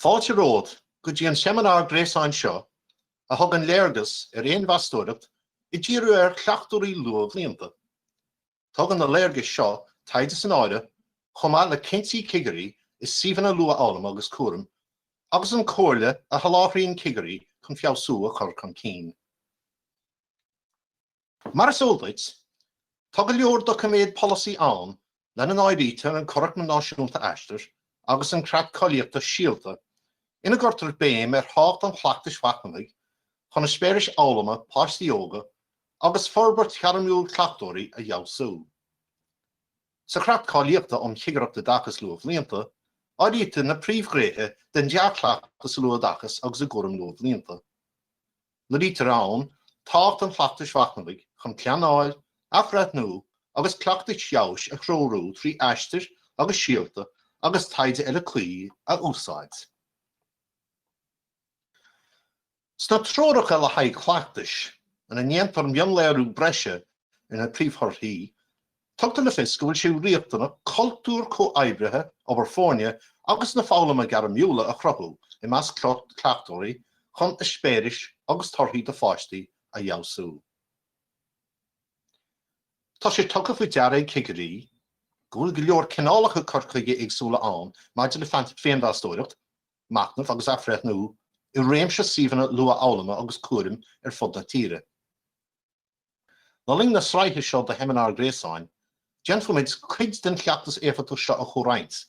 Fáilte romhat go dtí an seimineár gréasáin seo a thugann léargas ar fhéinmheastóireacht ag díriú ar chleachtóirí luathbhlianta. Tugann na léargais seo taighde san áireamh, chomh maith le cinntí cigirí i suíomhanna luathfhoghlama agus cúraim, agus an comhairle a sholáthraíonn cigirí chun feabhsú a chur chun cinn. Mar is eol duit, tá go leor doiciméad polasaí ann lena n-áirítear an Curaclam Náisiúnta Aistir agus an Creat Cáilíochta Síolta ina gcuirtear béim ar thábhacht an chleachtais mhachnamhaigh chun eispéiris fhoghlama páistí óga agus forbairt ghairmiúil cleachtóirí a fheabhsú. Sa Chreat Cáilíochta um Chigireacht Oideachais Luathbhlianta, áirítear na príomhghnéithe den dea-chleachtas sa luathoideachas agus i gcúram luathbhlianta. Léirítear ann tábhacht an chleachtais mhachnamhaigh chun pleanáil, athbhreithniú agus cleachtais fheabhais a threorú trí aistir agus síolta agus taighde eile cuí a úsáid. Sna treoracha le haghaidh cleachtais ina ndéantar mionléiriú breise ar na príomhthorthaí, tugtar le fios go bhfuil sé riachtanach cultúr comhoibrithe, obair foirne agus na foghlama gairmiúla a chruthú i measc cleachtóirí chun eispéiris agus torthaí do pháistí a fheabhsú. Tá sé tugtha faoi deara ag cigirí go bhfuil go leor cineálacha cur chuige éagsúla ann maidir le féinmheastóireacht, machnamh agus athbhreithniú i réimse suíomhanna luathfhoghlama agus cúraim ar fud na tíre. Le linn na sraithe seo de sheimineáir gréasáin, déanfaimid cuid den chleachtas éifeachtach seo a chomhroinnt,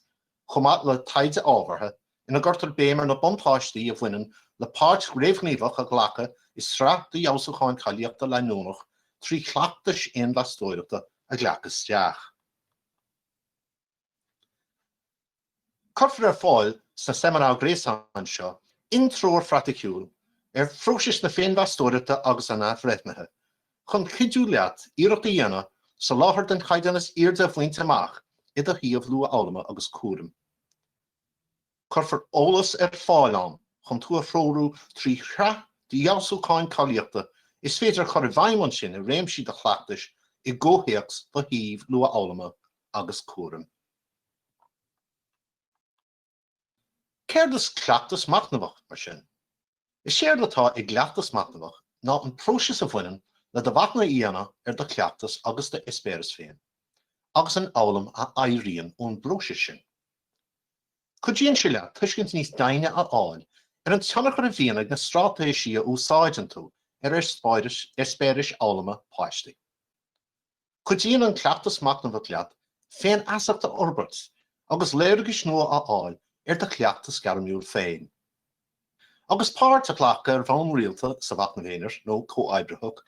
chomh maith le taighde ábhartha ina gcuirtear béim ar na buntáistí a bhaineann le páirt réamhghníomhach a ghlacadh i sraith de fheabhsúcháin cáilíochta leanúnach trí chleachtais féinmheastóireachta a ghlacadh isteach. Cuirfear ar fáil sa seimineár gréasáin seo intreoir phraiticiúil ar phróisis na féinmheastóireachta agus an athbhreithnithe chun cuidiú leat iarracht a dhéanamh soláthar den chaighdeán is airde a bhaint amach i do shuíomh luathfhoghlama agus cúraim. Cuirfear eolas ar fáil ann chun tú a threorú trí shraith d'fheabhsúcháin cáilíochta is féidir a chur i bhfeidhm ansin i réimsí de do chleachtas i gcomhthéacs do shuímh luathfhoghlama agus cúraim. Céard is cleachtas machnamhach, mar sin? Is éard atá i gcleachtas machnamhach ná an próiseas a bhaineann le do mhachnamh a dhéanamh ar do chleachtas agus d'eispéiris féin, agus an fhoghlaim a éiríonn ón bpróiseas sin. Cuidíonn sé leat tuiscint níos doimhne a fháil ar an tionchar a bhíonn ag na straitéisí a úsáideann tú ar eispéiris fhoghlama páistí. Cuidíonn an cleachtas machnamhach leat féinfheasacht a fhorbairt agus léargais nua a fháil ar do chleachtas gairmiúil féin. Agus páirt á glacadh ar bhonn rialta sa mhachnamh aonair nó comhoibritheach,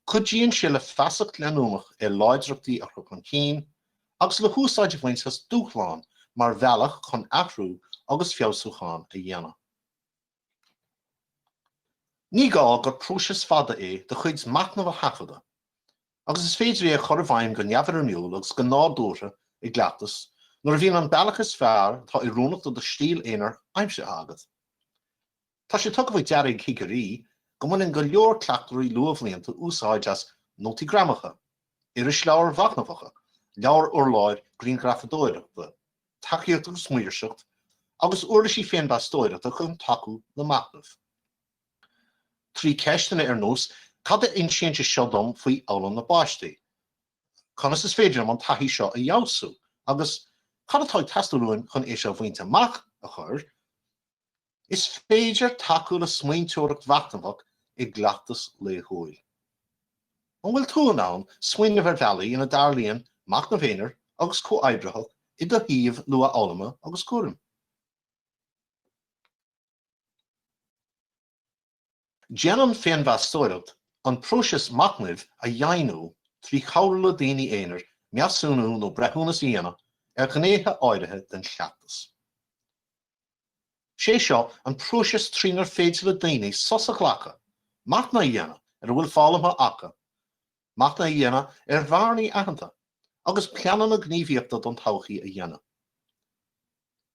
cuidíonn sé le feasacht leanúnach ar láidreachtaí a chur chun cinn agus le húsáid a bhaint as dúshláin mar bhealach chun athrú agus feabhsúchán a dhéanamh. Ní gá gur próiseas fada é do chuid machnaimh a thaifeadadh, agus is féidir é a chur i bhfeidhm go neamhfhoirmiúil agus go nádúrtha i gcleachtas nuair a bhíonn an bealach is fearr atá oiriúnach do do stíl aonair aimsithe agat. Tá sé tugtha faoi deara ag cigirí go mbaineann go leor cleachtóirí luathbhlianta úsáid as nótaí greamaithe, irisleabhair mhachnamhacha, leabhair urláir, grianghrafadóireacht, tacaíocht agus maoirseacht, agus uirlisí féinmheastóireachta chun tacú le machnamh. Trí ceisteanna ar nós, Cad a insíonn sé seo dom faoi fhoghlaim na bpáistí? Conas is féidir liom an taithí seo a fheabhsú? agus Cad atá ag teastáil uaim chun é seo a bhaint amach? a chur, Is féidir tacú le smaointeoireacht mhachnamhach i gcleachtas laethúil. An bhfuil tú in ann smaoineamh ar bhealaí ina dtarlaíonn machnamh aonair agus comhoibritheach i do shuíomh luathfhoghlama agus cúraim? Déanann féinmheastóireacht an próiseas machnaimh a dhoimhniú trí chabhrú le daoine aonair measúnú nó breithiúnas a dhéanamh ar ghnéithe áirithe den chleachtas. Is é seo an próiseas trínar féidir le daoine sos a ghlacadh, machnamh a dhéanamh ar a bhfuil foghlamtha acu, machnamh a dhéanamh ar bhearnaí aitheanta, agus pleananna gníomhaíochta don todhchaí a dhéanamh.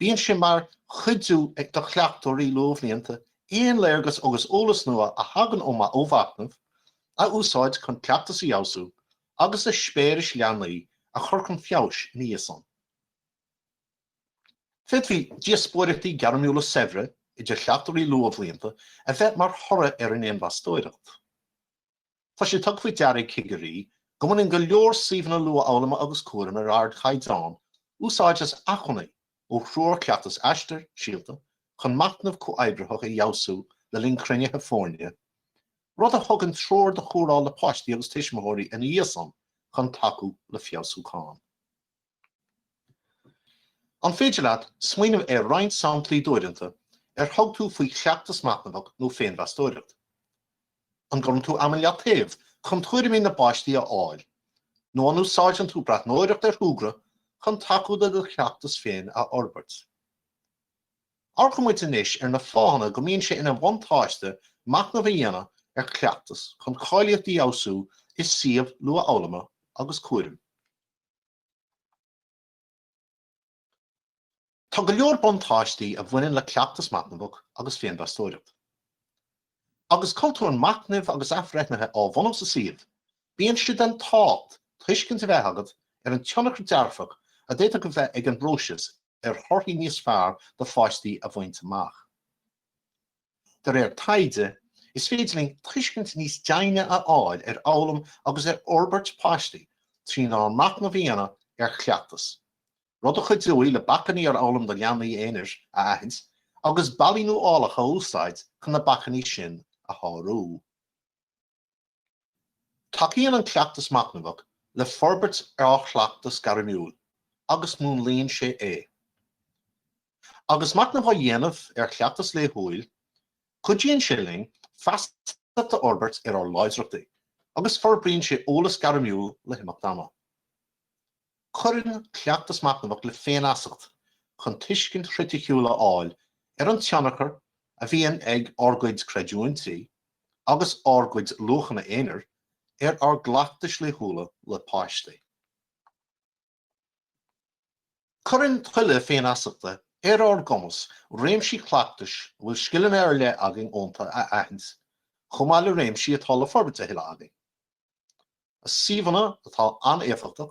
Bíonn sé mar chuidiú do chleachtóirí luathbhlianta aon léargas agus eolas nua a thagann ó mhachnamh a úsáid chun cleachtas a fheabhsú agus eispéiris leanaí a chur chun feabhais ina dhiaidh san. Féadfaidh díospóireachtaí gairmiúla saibhre idir chleachtóirí luathbhlianta a bheith mar thoradh ar an fhéinmheastóireacht. Tá sé tugtha faoi deara ag cigirí go mbaineann go leor suíomhanna luathfhoghlama agus cúraim ar ardchaighdeán úsáid as acmhainní ó Threoir Chleachtais Aistear Síolta chun machnamh comhoibritheach a fheabhsú le linn cruinnithe foirne, rud a thugann treoir do chomhairle le páistí agus tuismitheoirí ina dhiaidh san chun tacú le feabhsúchán. An féidir leat smaoineamh ar roinnt samplaí d'uaireanta ar thug tú faoi chleachtas machnamhach nó féinmheastóireacht? An gcuireann tú am i leataobh chun tuairimí na bpáistí a fháil, nó an úsáideann tú breathnóireacht ar shúgradh chun tacú le do chleachtas féin a fhorbairt? Amharcann muid anois ar na fáthanna go mbíonn sé ina bhuntáiste machnamh a dhéanamh ar chleachtas chun cáilíocht a fheabhsú i suíomh luathfhoghlama agus cúraim. Tá go leor buntáistí a bhaineann le cleachtas machnamhach agus féinmheastóireacht. Agus cultúr machnaimh agus athbhreithnithe á bhunú sa suíomh, bíonn sé den tábhacht tuiscint a bheith agat ar an tionchar dearfach a d'fhéadfadh a bheith ag an bpróiseas ar thorthaí níos fearr do pháistí a bhaint amach. De réir taighde, is féidir linn tuiscint níos deimhne a fháil ar fhoghlaim agus ar fhorbairt páistí trí mhachnamh a dhéanamh ar chleachtas, rud a chuideoidh le bacainní ar fhoghlaim do leanaí aonair a aithint agus bealaí nuálacha a úsáid chun na bacainní sin a shárú. Tacaíonn an cleachtas machnamhach le forbairt ar ár gcleachtas gairmiúil agus múnlaíonn sé é. Agus machnamh á dhéanamh ar chleachtas laethúil, cuidíonn sé linn feasacht a fhorbairt ar ár láidreachtaí agus forbraíonn sé eolas gairmiúil le himeacht ama. Cuireann cleachtas machnamhach le féinfheasacht chun tuiscint chriticiúil a fháil ar an tionchar a bhíonn ag ár gcuid creidiúintí agus ár gcuid luachanna aonair ar ár gcleachtais laethúla le páistí. Cuireann tuilleadh féinfheasachta ar ár gcumas réimsí cleachtais a bhfuil scileanna ar leith againn iontu a aithint chomh maith le réimsí atá le forbairt a thuilleadh againn. I suíomhanna atá an-éifeachtach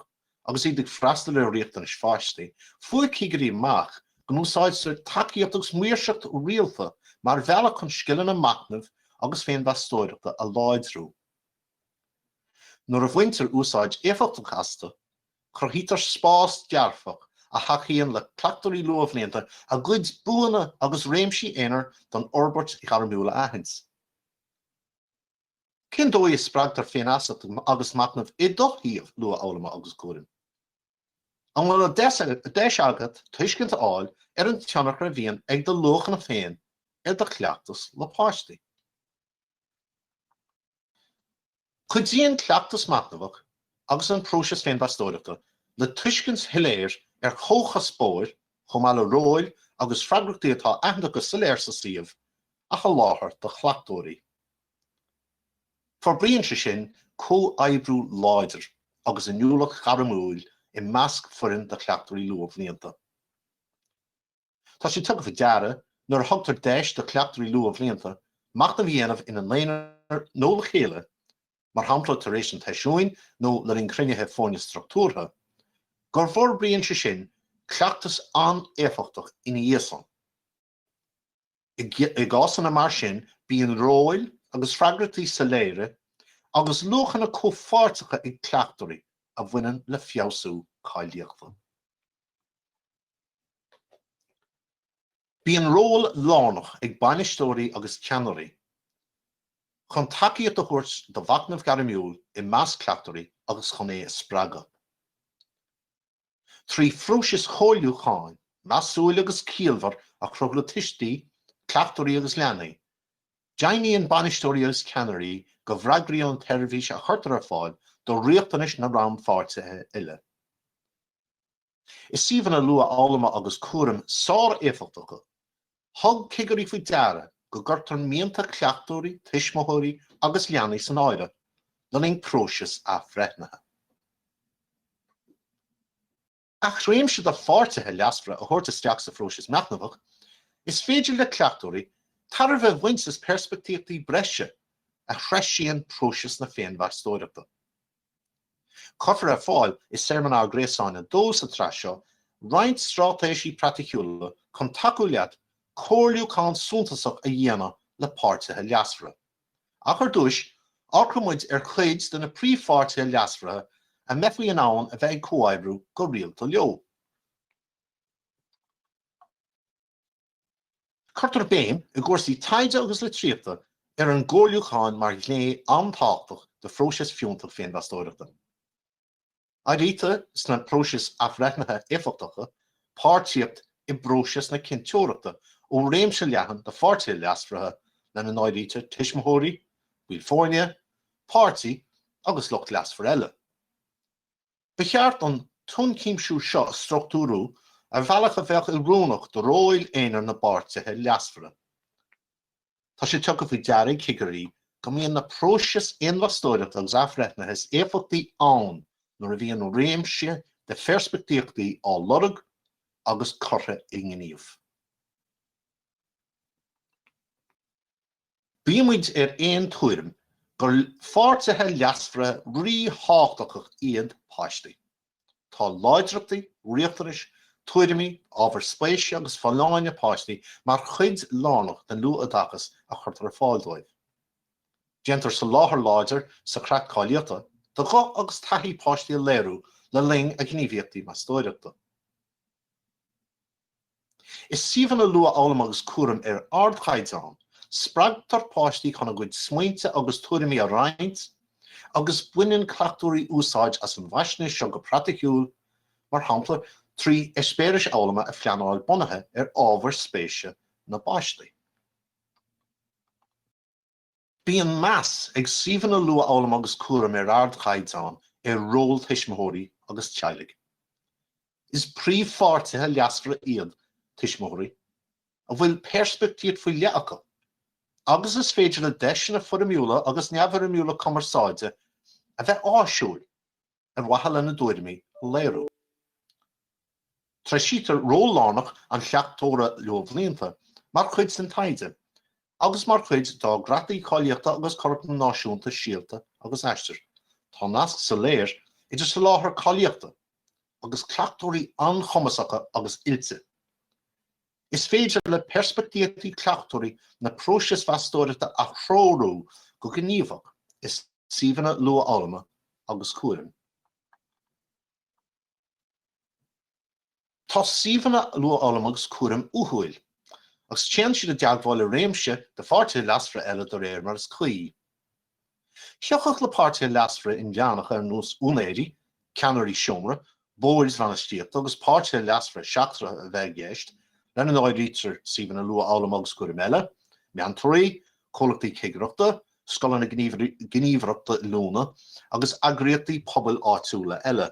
agus iad ag freastal ar riachtanais pháistí, fuair cigirí amach go n-úsáidtear tacaíocht agus maoirseacht rialta mar bhealach chun scileanna machnaimh agus féinmheastóireachta a láidriú. Nuair a bhaintear úsáid éifeachtach astu, cruthaítear spás dearfach a thacaíonn le cleachtóirí luathbhlianta a gcuid buanna agus réimsí aonair don fhorbairt ghairmiúil a aithint. Cén dóigh a spreagtar féinfheasacht agus machnamh i do shuíomh luathfhoghlama agus cúraim? An bhfuil an deis agat tuiscint a fháil ar an tionchar a bhíonn ag do luachanna féin ar do chleachtas le páistí? Cuidíonn cleachtas machnamhach agus an próiseas féinmheastóireachta le tuiscint shoiléir ar chomhchuspóir chomh maith le róil agus freagrachtaí atá aitheanta go soiléir sa suíomh a sholáthar do chleachtóirí. Forbraíonn sé sin comhoibriú láidir agus inniúlacht ghairmiúil i measc foireann de chleachtóirí luathbhlianta. Tá sé tugtha faoi deara, nuair a thugtar deis do chleachtóirí luathbhlianta machnamh a dhéanamh ina n-aonar nó le chéile, mar shampla tar éis an tseisiúin nó le linn cruinnithe foirne struchtúrtha, go bhforbraíonn sé sin cleachtas an-éifeachtach ina dhiaidh san. I gcásanna mar sin, bíonn róil agus freagrachtaí soiléire agus luachanna comhpháirteacha ag cleachtóirí a bhaineann le feabhsú cáilíochta. Bíonn ról lárnach ag bainisteoirí agus ceannairí chun tacaíocht a thabhairt do mhachnamh gairmiúil i measc cleachtóirí agus chun é a spreagadh. trí phróisis chomhairliúcháin measúil agus ciallmhar a chruthú le tuistí, cleachtóirí agus leanaí. Deimhníonn bainisteoirí agus ceannairí go bhfreagraíonn an tseirbhís a chuirtear ar fáil do riachtanais na rannpháirtithe uile. I suíomhanna luathfhoghlama agus cúraim sár-éifeachtacha thug cigirí faoi deara go gcuirtear mianta cleachtóirí, tuismitheoirí agus leanaí san áireamh le linn próisis athbhreithnithe. Ach réimse de pháirtithe leasmhara a thabhairt isteach sa phróiseas machnamhach, is féidir le cleachtóirí tairbhe a bhaint as peirspictíochtaí breise a threisíonn próiseas na féinmheastóireachta. Cuirfear ar fáil i seimineár gréasáin a dó sa tsraith seo roinnt straitéisí praiticiúla chun tacú leat comhairliúchán suntasach a dhéanamh le páirtithe leasmhara. Ach ar dtús, amharcfaidh muid ar chuid de na príomhpháirtithe leasmhara a mbeifí in ann a bheith ag comhoibriú go rialta leo. Cuirtear béim i gcúrsaí taighde agus litríochta ar an gcomhairliúchán mar ghné an-tábhachtach de phróiseas fiúntach féinmheastóireachta. Áirítear sna próisis athbhreithnithe éifeachtacha páirtíocht i bpróiseas na cinnteoireachta ó réimse leathan de pháirtithe leasmhara lena n-áirítear tuismitheoirí, baill foirne, páistí agus lucht leasmhar eile. Ba cheart an t-ionchuimsiú seo a struchtúrú ar bhealach a bheadh oiriúnach do róil aonair na bpáirtithe leasmhara. Tá sé tugtha faoi deara ag cigirí go mbíonn na próisis féinmheastóireachta agus athbhreithnithe is éifeachtaí ann nuair a bhíonn réimse de pheirspictíochtaí á lorg agus curtha i ngníomh. Bímid ar aon tuairim gur pháirtithe leasmhara ríthábhachtacha iad páistí. Tá láidreachtaí, riachtanais, tuairimí, ábhair spéise agus folláine páistí mar chuid lárnach den luathoideachas a chuirtear ar fáil dóibh. Déantar soláthar láidir sa Chreat Cáilíochta do ghuth agus taithí páistí a léiriú le linn a ngníomhaíochtaí meastóireachta. I suíomhanna luathfhoghlama agus cúraim ar ardchaighdeán, spreagtar páistí chun a gcuid smaointe agus tuairimí a roinnt agus baineann cleachtóirí úsáid as an bhfaisnéis seo go praiticiúil, mar shampla trí eispéiris fhoghlama a phleanáil bunaithe ar ábhair spéise na bpáistí. Bíonn meas ag suíomhanna luathfhoghlama agus cúraim ar ardchaighdeán ar ról tuismitheoirí agus teaghlaigh. Is príomhpháirtithe leasmhara iad tuismitheoirí, a bhfuil peirspictíocht faoi leith acu, agus is féidir le deiseanna foirmiúla agus neamhfhoirmiúla cumarsáide a bheith áisiúil. ar mhaithe lena dtuairimí a léiriú. Treisítear ról lárnach an chleachtóra luathbhlianta mar chuid den taighde agus mar chuid dár gcreataí cáilíochta agus curaclaim náisiúnta Síolta agus Aistear. Tá nasc soiléir idir soláthar cáilíochta agus cleachtóirí an-chumasacha agus oilte. Is féidir le peirspictíochtaí cleachtóirí na próisis mheastóireachta a threorú go gníomhach i suíomhanna luathfhoghlama agus cúraim. Tá suíomhanna luathfhoghlama agus cúraim uathúil, agus téann siad i dteagmháil le réimse de pháirtithe leasmhara eile de réir mar is cuí. Thiocfadh le páirtithe leasmhara inmheánacha ar nós úinéirí, ceannairí seomra, boird bhainistíochta agus páirtithe leasmhara seachtracha a bheith i gceist, lena n-áirítear suíomhanna luathfhoghlama agus cúraim eile, meantóirí, comhlachtaí cigireachta, scoileanna, gníomhaireachtaí oiliúna agus eagraíochtaí pobail áitiúla eile.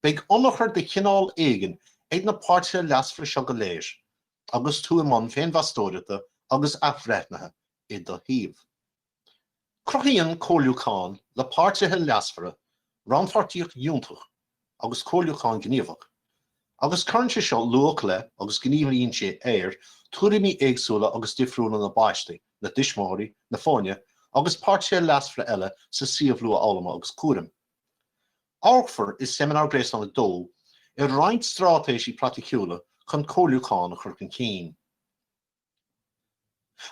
Beidh ionchur de chineál éigin ag na páirtithe leasmhara seo go léir agus tú i mbun féinmheastóireachta agus athbhreithnithe, i do shuíomh. Cruthaíonn comhairliúchán le páirtithe leasmhara rannpháirtíocht fhiúntach agus comhairliúchán gníomhach, agus cuireann sé seo luach le agus gníomhaíonn sé ar thuairimí éagsúla agus difriúla na bpáistí, na dtuismitheoirí, na foirne agus páirtithe leasmhara eile sa suíomh luathfhoghlama agus cúraim. Amharcfar i Seimineár Gréasáin 2 ar roinnt straitéisí praiticiúla chun comhairliúchán a chur chun cinn.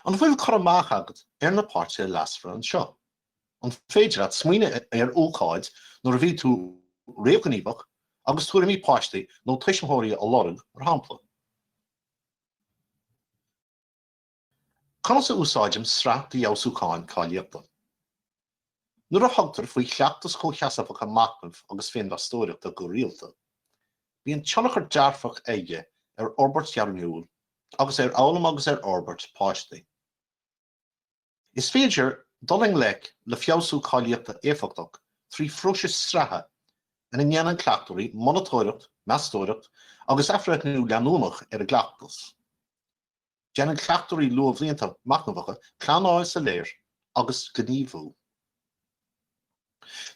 An bhfuil cur amach agat ar na páirtithe leasmhara anseo? An féidir leat smaoineamh ar ócáid nuair a bhí tú réamhghníomhach agus tuairimí páistí nó tuismitheoirí a lorg, mar shampla? Conas a úsáidim sraith d'fheabhsúcháin cáilíochta? Nuair a thugtar faoi chleachtas chomhsheasmhacha machnaimh agus féinmheastóireachta go rialta, bíonn tionchar dearfach aige ar fhorbairt ghairmiúil agus ar fhoghlaim agus ar fhorbairt páistí. Is féidir dul i ngleic le feabhsú cáilíochta éifeachtach trí phróiseas sraithe ina ndéanann cleachtóirí monatóireacht, meastóireacht agus athbhreithniú leanúnach ar a gcleachtas. Déanann cleachtóirí luathbhlianta machnamhacha pleanáil soiléir agus gníomhú.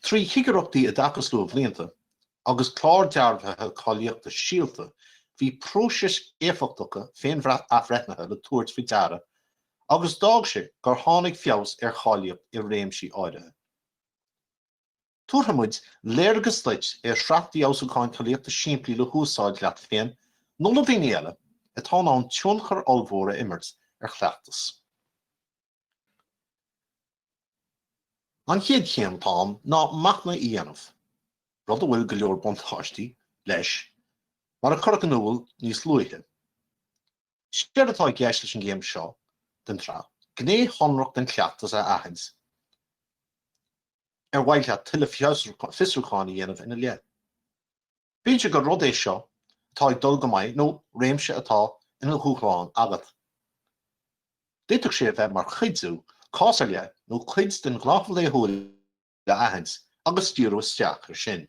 Trí Chigireachtaí Oideachais Luathbhlianta agus Clár Dearbhaithe Cáilíochta Síolta, bhí próisis éifeachtacha féin-athbhreithnithe le tabhairt faoi deara agus d'fhág sé gur tháinig feabhas ar cháilíocht i réimsí áirithe. Tabharfaimid léargas duit ar shraith d'fheabhsúcháin cáilíochta simplí le húsáid leat féin nó le daoine eile atá in ann tionchar ollmhór a imirt ar chleachtas. An chéad chéim atá ann ná machnamh a dhéanamh, rud a bhfuil go leor buntáistí leis, mar a cuireadh in iúl níos luaithe. Séard atá i gceist leis an gcéim seo den tsraith, gné shonrach den chleachtas a aithint ar mhaith leat tuilleadh fiosrúcháin a dhéanamh ina leith. Bíodh sé gur rud é seo atá ag dul go maith nó réimse atá ina dhúshlán agat. D'fhéadfadh sé a bheith mar chuidiú cás ar leith nó cuid den ghnáthamh laethúil, a aithint agus díriú isteach air sin.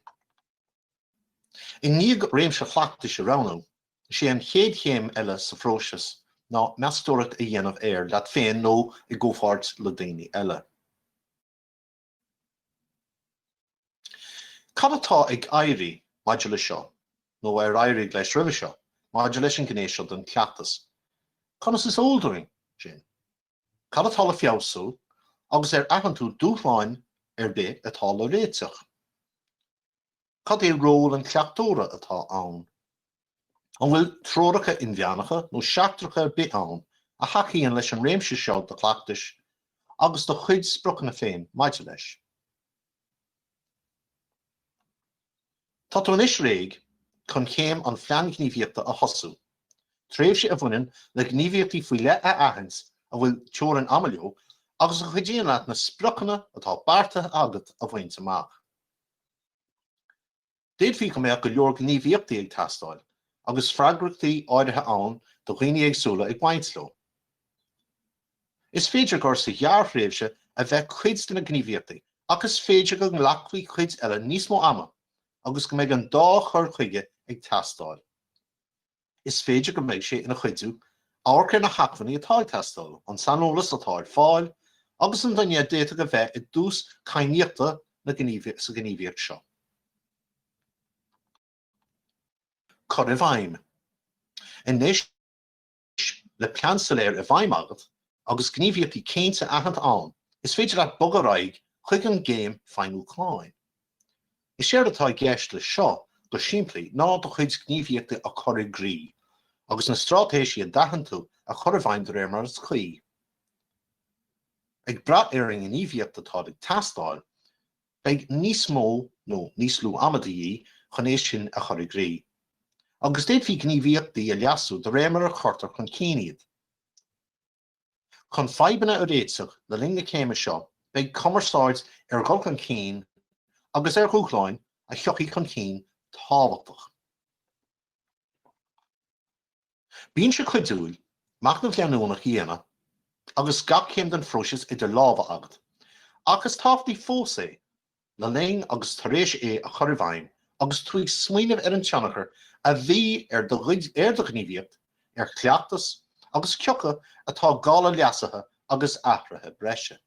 I ndiaidh réimse chleachtais a roghnú, is é an chéad chéim eile sa phróiseas ná meastóireacht a dhéanamh air leat féin nó i gcomhpháirt le daoine eile. Cad atá ag éirí maidir leis seo, nó ar éirigh leis roimhe seo, maidir leis an ngné seo den chleachtas? Conas is eol dúinn sin? Cad atá le feabhsú, agus ar aithin tú dúshláin ar bith atá le réiteach? Cad é ról an chleachtóra atá ann? An bhfuil treoracha inmheánacha nó seachtracha ar bith ann a thacaíonn leis an réimse seo de chleachtas agus do chuid spriocanna féin maidir leis? Tá tú anois réidh chun céim an Phlean Ghníomhaíochta a thosú, tréimhse a bhaineann le gníomhaíochtaí faoi leith a aithint a bhfuil teorainn ama leo agus a chuidíonn leat na spriocanna atá beartaithe agat a bhaint amach. D'fhéadfaí go mbeadh go leor gníomhaíochtaí ag teastáil, agus freagrachtaí áirithe ann do dhaoine éagsúla ag baint leo. Is féidir gur sa ghearrthréimhse a bheidh cuid de na gníomhaíochtaí, ach is féidir go nglacfaidh cuid eile níos mó ama agus go mbeidh an dá chur chuige ag teastáil. Is féidir go mbeidh sé ina chuidiú, amharc ar na hacmhainní atá ag teastáil, an saineolas atá ar fáil agus an duine a d'fhéadfadh a bheith i dtús cadhnaíochta sa ghníomhaíocht seo. Cur i bhfeidhm Anois le plean soiléir i bhfeidhm agat, Agus gníomhaíochtaí cinnte aitheanta ann, is féidir leat bogadh ar aghaidh chuig an gcéim feidhmiú chláir. Is éard atá i gceist leis seo go simplí ná do chuid gníomhaíochtaí a chur i gcrích agus na straitéisí a d'aithin tú a chur i bhfeidhm de réir mar is cuí. Ag brath ar an ngníomhaíocht atá ag teastáil, beidh níos mó nó níos lú ama de dhíth chun é sin a chur i gcrích, agus d'fhéadfaí gníomhaíochtaí a leasú de réir mar a chuirtear chun cinn iad. Chun fadhbanna a réiteach le linn na céime seo beidh cumarsáid ar dhul chun cinn agus ar dhúshláin a thiocfaidh chun cinn tábhachtach. Bíonn sé cuidiúil machnamh leanúnach a dhéanamh agus gach céim den phróiseas idir lámha agat, ach is tábhachtaí fós é le linn agus tar éis é a chur i bhfeidhm agus tú ag smaoineamh ar an tionchar a bhí ar do ghníomhaíocht, ar chleachtas agus cioca atá gá le leasuithe agus athruithe breise.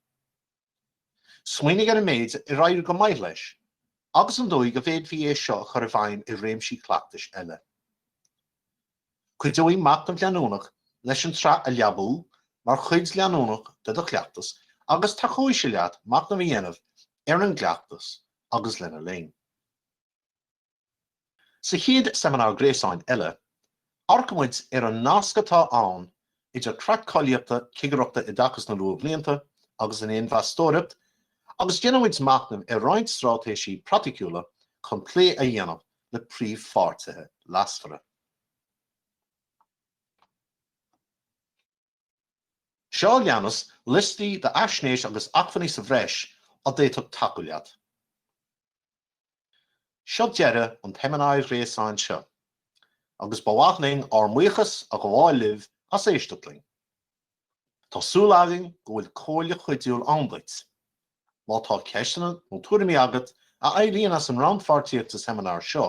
Smaoinigh ar an méid ar éirigh go maith leis agus an dóigh a bhféadfaí é seo a chur i bhfeidhm i réimsí cleachtais eile. Cuideoidh machnamh leanúnach leis an tsraith a leabú mar chuid leanúnach de do chleachtas agus tacóidh sé leat machnamh a dhéanamh ar an gcleachtas agus lena linn. Sa chéad seimineár gréasáin eile, amharcaimid ar an nasc atá ann idir creat cáilíochta cigireachta Oideachas na Luathbhlianta agus an fhéinmheastóireacht agus déanaimid machnamh ar roinnt straitéisí praiticiúla chun plé a dhéanamh le príomhpháirtithe leasmhara. Seo a leanas liostaí d'fhaisnéis agus acmhainní sa bhreis a d'fhéadfadh tacú leat. Seo deireadh an tseimineáir ghréasáin seo, agus ba mhaith linn ár mbuíochas a ghabháil libh as éisteacht linn. Tá súil againn go bhfuil comhairle chuidiúil ann duit. Má tá ceisteanna nó tuairimí agat a éiríonn as an rannpháirtíocht sa seimineár seo,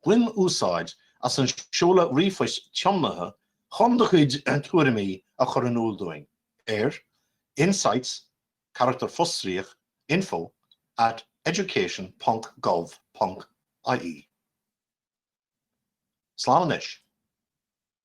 bain úsáid as an seoladh ríomhphoist tiomnaithe chun do chuid tuairimí a chur in iúl dúinn ar, insights, carachtar fostríoch, info at education ponc gov ponc ie. Slán anois.